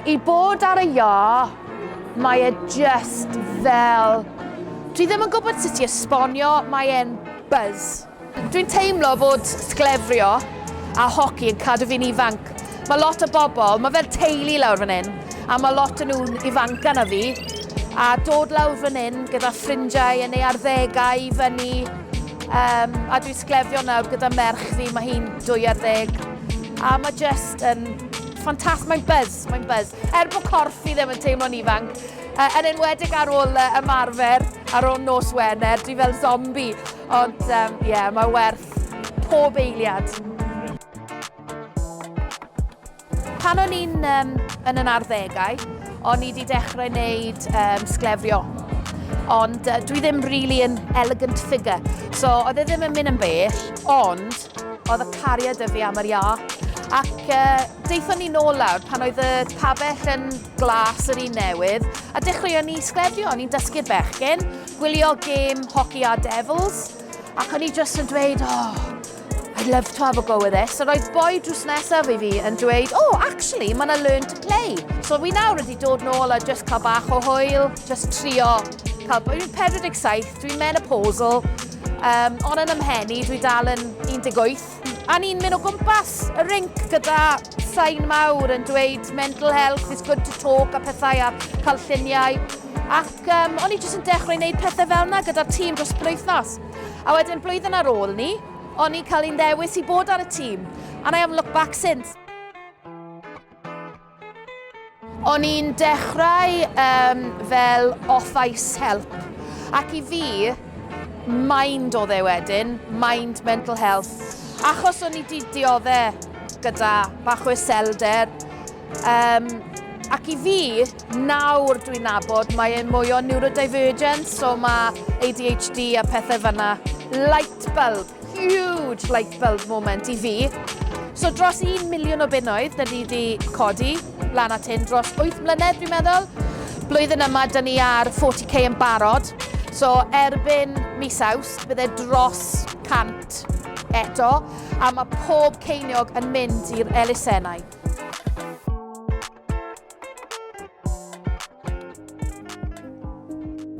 I bod ar y iâ, mae e just fel... Dwi ddim yn gwybod sut i esbonio, mae e'n buzz. Dwi'n teimlo fod sglefrio a hoci yn cadw fi'n ifanc. Mae lot o bobl, mae fel teulu lawr fan hyn, a mae lot o nhw'n ifanca na fi, a dod lawr fan hyn gyda ffrindiau yn ei arddegau i fyny, um, a dwi'n sglefrio nawr gyda merch fi, mae hi'n dwy ar ddeg, a mae just yn Ffantastig, mae'n buzz, mae'n buzz. Er bod corff fi ddim yn teimlo'n ifanc, uh, yn enwedig ar ôl uh, ymarfer, ar ôl nos Wener, dwi fel zombi. Ond, ie, um, yeah, mae werth pob eiliad. Pan o'n i'n um, yn yn arddegau, o'n i wedi dechrau wneud um, sglefrio. Ond uh, dwi ddim really yn elegant figure. So, oedd e ddim yn mynd yn bell, ond Oedd y cariad y fi am yr iâc. Ac uh, deithon ni nôl lawr pan oedd y tabell yn glas yr un newydd, a dechreuon ni sgledio, ni'n dysgu'r bechgyn, gwylio gêm hoci a Devils, ac o'n i jyst yn dweud, oh, I'd love to have a go with this. A roedd boi drws nesaf i fi yn dweud, oh, actually, mae'n a learn to play. So fi nawr wedi dod nôl a just cael bach o hwyl, just trio cael... Dwi'n 47, dwi'n menopausal, Um, ond yn ymhen i, dwi dal yn 18. A ni'n mynd o gwmpas y rinc gyda sain mawr yn dweud mental health is good to talk a pethau a cael lluniau. Ac um, o'n i jyst yn dechrau gwneud pethau fel yna gyda'r tîm dros blwythnos. A wedyn blwyddyn ar ôl ni, o'n i'n cael ei ddewis i bod ar y tîm. And I haven't looked back since. O'n i'n dechrau um, fel office help, ac i fi, mind oedd e wedyn, mind mental health, achos o'n i di diodde gyda bach o iselder. Um, ac i fi, nawr dwi'n nabod, mae e'n mwy o neurodivergence, so mae ADHD a pethau fyna. Light bulb. Huge light bulb moment i fi. So dros 1 miliwn o bunnoedd da ni wedi codi lan at hyn dros 8 mlynedd dwi'n meddwl. Blwyddyn yma da ni ar 40k yn barod. So erbyn mis aws bydde dros 100 eto a mae pob ceiniog yn mynd i'r elusennau.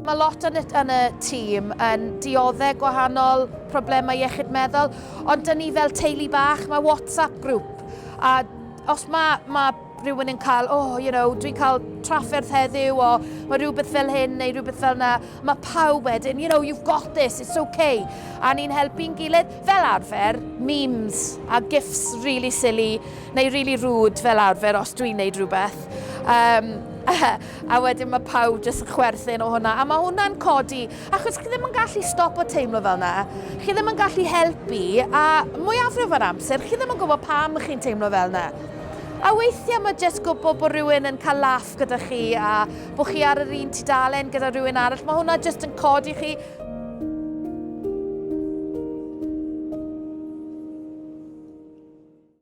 Mae lot yn y, yn y tîm yn dioddau gwahanol problemau iechyd meddwl, ond dyn ni fel teulu bach, mae WhatsApp grŵp, a os mae, mae rhywun yn cael, oh, you know, dwi'n cael trafferth heddiw o mae rhywbeth fel hyn neu rhywbeth fel yna, mae pawb wedyn, you know, you've got this, it's okay. A ni'n helpu'n gilydd, fel arfer, memes a gifs really silly, Mae rili rŵd fel arfer os dwi'n neud rhywbeth yym a wedyn mae pawb jyst yn chwerthin o hwnna a mae hwnna'n codi achos chi ddim yn gallu stopo teimlo fel yna. Chi ddim yn gallu helpu a mwyafrif o'r amser chi ddim yn gwybod pam chi'n teimlo fel yna. A weithiau mae jyst gwybod bod rhywun yn cael laff gyda chi a bod chi ar yr un tudalen gyda rhywun arall, mae hwnna jyst yn codi chi.